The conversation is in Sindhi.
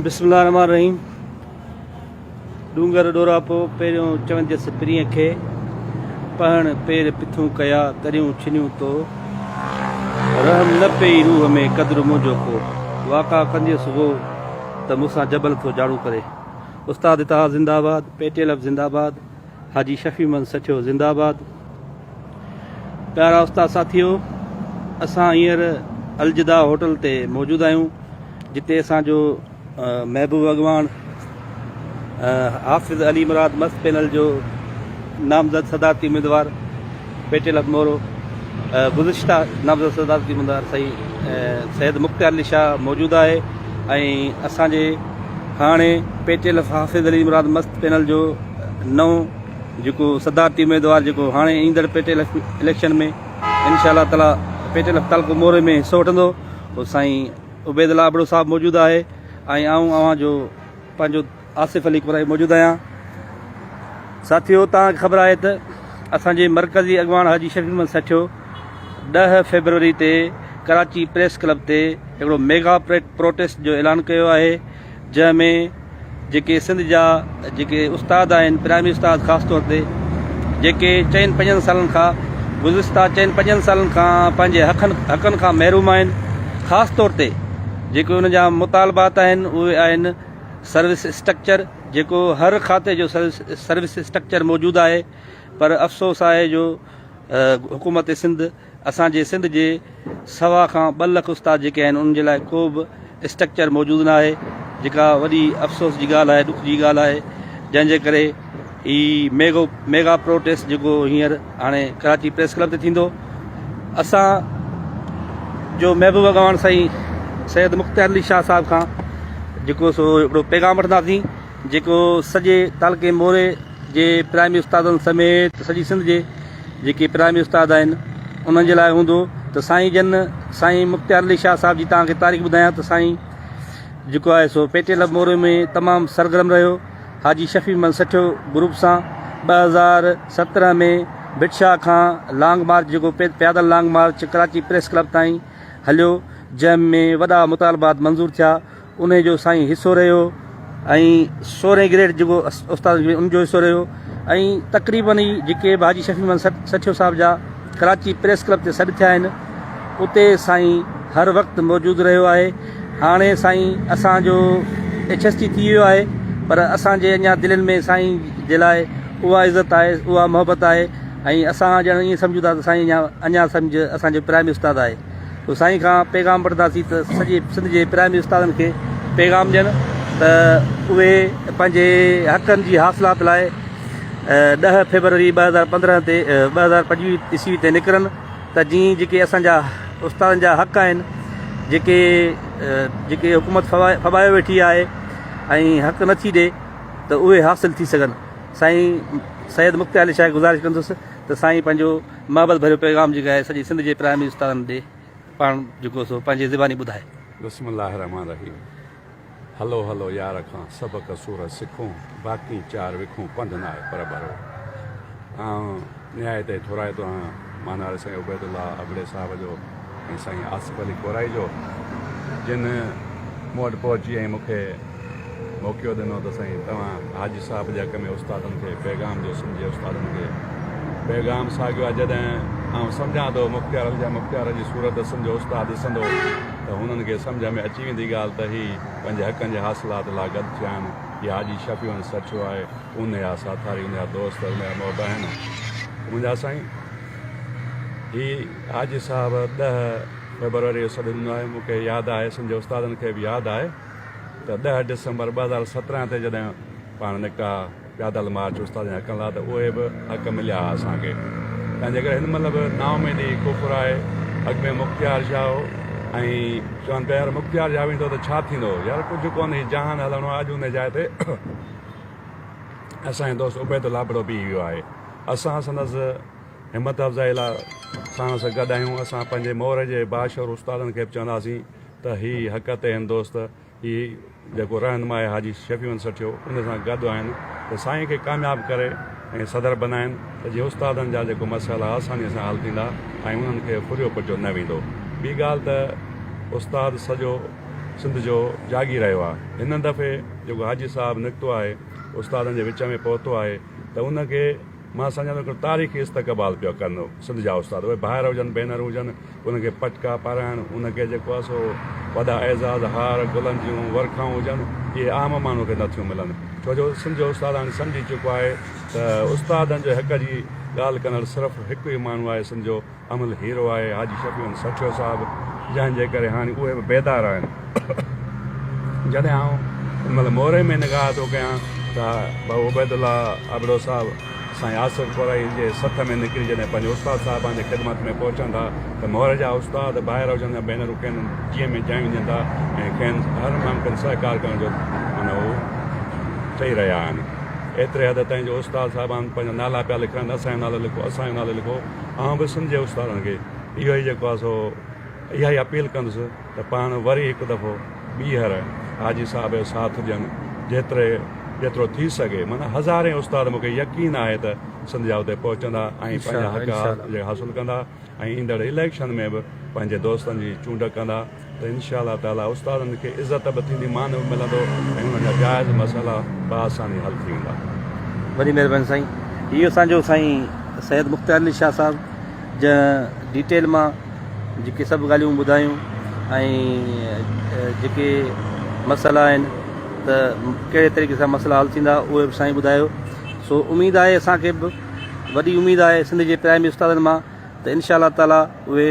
بسم الله الرحمن الرحيم ڏونگر ڏوراپو پهريون چونديس پرينء کي پهڻ پير پٿون ڪيا تريون ڇنيون تو رحم نه پئي روح ۾ قدر منهنجو ڪو واڪا ڪنديس وو ته مون سان جبل ٿو جاڙون ڪري استاد اتحاد زنده آباد پي ٽي ايل ايف زنده آباد. حاجي شفيع محمد سٺيو زنده آباد. پيارا استاد ساٿيو اسان هينئر الجدا هوٽل تي موجود آهيون جتي اسان جو محبوب اڳواڻ حافظ علي مراد مست پينل جو نامزد صدارتي اميدوار پيٽي لکمورو، گذشته نامزد صدارتي اميدوار سائين سيد مختيار علي شاهه موجود آهي ۽ اسان جي هاڻي پيٽي لف حافظ علي مراد مست پينل جو نئون جيڪو صدارتي اميدوار جيڪو هاڻي ايندڙ پيٽي لف اليڪشن ۾ انشاء الله تعالي پيٽي لف تعلقو موري ۾ حصو وٺندو سائين عبيد الله ابڙو صاحب موجود آهي ۽ آئون اوهان جو پنهنجو آصف علي قرائي موجود آهيان ساٿيو توهان کي خبر آهي ته اسان جي مرڪزي اڳواڻ حاجي شفيق محمد سهٺيو ڏهه فيبروري تي ڪراچي پريس ڪلب تي هڪڙو ميگا پروٽيسٽ جو اعلان ڪيو آهي جنهن ۾ جيڪي سنڌ جا جيڪي استاد آهن پرائمري استاد خاص طور تي جيڪي چئن پنجن سالن کان گذشته چئن پنجن سالن کان پنهنجي حقن حقن کان محروم آهن خاص طور تي جيڪي ان جا مطالبات آهن اهي آهن سروس اسٽرڪچر جيڪو هر کاتي جو سروس اسٽرڪچر موجود آهي پر افسوس آهي جو حڪومت سنڌ اسان جي سنڌ جي سوا کان ٻه لک استاد جيڪي آهن انهن جي لاء ڪو به اسٽرڪچر موجود نه آهي جيڪا وڏي افسوس جي ڳالهه آهي ڏک جي ڳالهه آهي جنهن جي ڪري هي ميگو ميگا پروٽيسٽ جيڪو هينئر هاڻي ڪراچي پريس ڪلب تي ٿيندو اسان جو محبوب اڳواڻ سائين سيد مختيار علي شاهه صاحب کان جيڪو سو هڪڙو پيغام وٺنداسين جيڪو سڄي تعلقي موري جي پرائمري استادن سميت سڄي سنڌ جي جيڪي پرائمري استاد آهن انهن جي لاء هوندو ته سائين جن سائين مختيار علي شاهه صاحب جي تان کي تاريخ ٻڌايان ته سائين جيڪو آهي سو پيٽي لب موري ۾ تمام سرگرم رهيو حاجي شفيع من سٺيو گروپ سان ٻه هزار سترهن ۾ ڀٽ شاهه کان لانگ مارچ جيڪو پيادل long march Karachi press club تائين هليو جنهن ۾ وڏا مطالبات منظور ٿيا انهي جو سائين حصو رهيو ۽ سورهين گريڊ جيڪو استاد ان جو حصو رهيو ۽ تقريبن ئي جيڪي به حاجي شفيع من سٺيو صاحب جا ڪراچي پريس ڪلب تي سڏ ٿيا آهن اتي سائين هر وقت موجود رهيو آهي هاڻي سائين اسان جو ايڇ ايس ٽي ٿي ويو آهي پر اسان جي اڃا دلين ۾ سائين جي لاء اها عزت آهي اها محبت آهي ۽ اسان ڄڻ ائين سمجهون ٿا ته سائين اڃا سمجهه اسان جو پرائمري استاد آهي تو سائين کان پيغام وٺنداسين ته سڄي سنڌ جي پرائمري استادن کي پيغام ڏين ته اهي پنهنجي حقن جي حاصلات لاء ڏهه فيبروري ٻه هزار پندرهن تي ٻه هزار پنجويهه عيسوي تي نڪرن ته جيئن جيڪي اسان جا استادن جا حق آهن جيڪي جيڪي حڪومت فبايو ويٺي آهي ۽ حق نٿي ڏي ته اهي حاصل ٿي سگهن سائين سيد مختيار علي شاهه گذارش ڪندس ته سائين پنهنجو محبت ڀريو پيغام جي ڳائي سڄي سنڌ جي پرائمري استادن ڏي پاڻ جيڪو سو پنهنجي زباني ٻڌائي. بسم الله الرحمٰن الرحيم هلو هلو يار کان سبق سورت سکون باقين چار وکون پنڌ ناهي پر ڀرو آئون نهايت ئي ٿورائتو آهيان ماناري سائين عبيد الله ابڙي صاحب جو. ۽ سائين آصف علي ڪورائي جو جن مون وٽ پهچي ۽ مون کي موقعو ڏنو ته سائين توهان حاجي صاحب جي حق ۾ استادن کي پيغام ڏيو سنڌ جي استادن کي پيغام ساڳيو آهي جڏهن آئون سمجهان ٿو مختيار علي جا مختيار جي صورت سنڌ جو استاد ڏسندو ته هنن کي سمجهه ۾ اچي ويندي ڳالهه ته هي پنهنجي حقن جي حاصلات لا گڏ ٿيا آهن هي حاجي شفيع هن سرڇو آهي ان جا ساٿاري ان جا دوست ان جا محب آهن منهنجا سائين هي حاجي صاحب ڏهه فيبروري جو سڏ ڏنو آهي، مون کي ياد آهي اسم جي استادن کي به ياد آهي ته ڏهه ڊسمبر ٻه هزار سترهن تي جڏهن پاڻ نڪتا پيادل مارچ استادن جي حقن لا ته اهي به حق مليا ها اسان کي تان جيڪر هن مهل به نااميدي ڪفر آهي اڳ ۾ مختيار شاهه هو ۽ چون پيا يار مختيار شاهه ويندو ته ڇا ٿيندو يار ڪجهه ڪون هي جهان هلڻو آهي اڄ ان جاء تي اسان جو دوست عبيد الله ابڙو بيهي ويو آهي اسان سندس همت افزائي لاء ساڻس گڏ آهيون. اسان پنهنجي مور جي باشعور استادن کي به چونداسين ته هي حق تي هن دوست هي جيڪو رهنما آهي حاجي شفيعون سٺيو ان سان گڏ آهن ته سائين کي ڪامياب ڪري ۽ صدر بنائين ته جيئن استادن جا جيڪو مسئلا آساني سان حل ٿيندا ۽ انهن کي ڦريو پٽيو نه ويندو ٻي ڳالهه ته استاد سڄو سنڌ جو جاگير رهيو آهي هن دفعي جيڪو حاجي صاحب نڪتو آهي استادن جي وچ ۾ پهتو آهي ته ان کي مان سمجهان ٿو هڪڙو تاريخي استقبال پيا ڪن سنڌ جا استاد اهي ڀائر هجن ڀينر هجن انهن کي پٽڪا پارائڻ ان کي جيڪو آهي سو وڏا اعزاز هار گلن جون ورکائون هجن اهي عام ماڻهو کي نه ٿيون ملن ڇو جو سنڌ جو استاد هاڻي سمجهي چڪو آهي ته استادن جي حق جي ڳالهه ڪندڙ صرف هڪ ئي ماڻهو آهي سنڌ جو عمل هيرو آهي حاجي شفيع احمد سرڇو صاحب جنهن جي ڪري هاڻي اهي به بيدار آهن. جڏهن آئون ان مهل موري ۾ نگاهه ٿو ڪيان ته بابو عبيد الله ابڙو صاحب سائين آصف ڪورائي جي سٿ ۾ نڪري جڏهن پنهنجي استاد صاحبان جي خدمت ۾ پهچن ٿا ته موري جا استاد ٻاهر هجن يا ڀينرون کين جيء ۾ جايون ڏين ٿا ۽ کين هر ممڪن سهڪار ڪرڻ جو معنيٰ هو چئي رهيا آهن ايتري حد تائين جو استاد صاحبان پنهنجا نالا پيا لکرائن اسان جو نالو لکو اسان جو نالو لکو. آئون به سنڌ جي استادن کي اهو ئي جيڪو آهي سو اها ئي اپيل ڪندس ته پاڻ وري هڪ دفعو ٻيهر حاجي صاحب جو ساٿ ڏين جيتري جيترو ٿي سگهي معنيٰ هزارين استاد مونکي يقين آهي ته سنڌ جا اتي پهچندا ۽ پنهنجا حق حاصل ڪندا ۽ ايندڙ اليڪشن ۾ به پنهنجي دوستن جي چونڊ ڪندا. ته انشاء الله تعاليٰ استادن کي عزت به ٿيندي مان به ملندو ۽ انهن جا جائز مسئلا به آساني حل ٿي ويندا. وڏي مهرباني سائين هي اسان جو سائين سيد مختيار علي شاهه صاحب جنهن ڊيٽيل مان جيڪي سڀ ڳالهيون ٻڌايون ۽ جيڪي مسئلا آهن ته ڪهڙي طريقي سان مسئلا حل ٿيندا اهي به سائين ٻڌايو سو اميد آهي اسان کي به وڏي اميد آهي سنڌ جي پرائمري استادن مان ته انشاء الله تعاليٰ اهي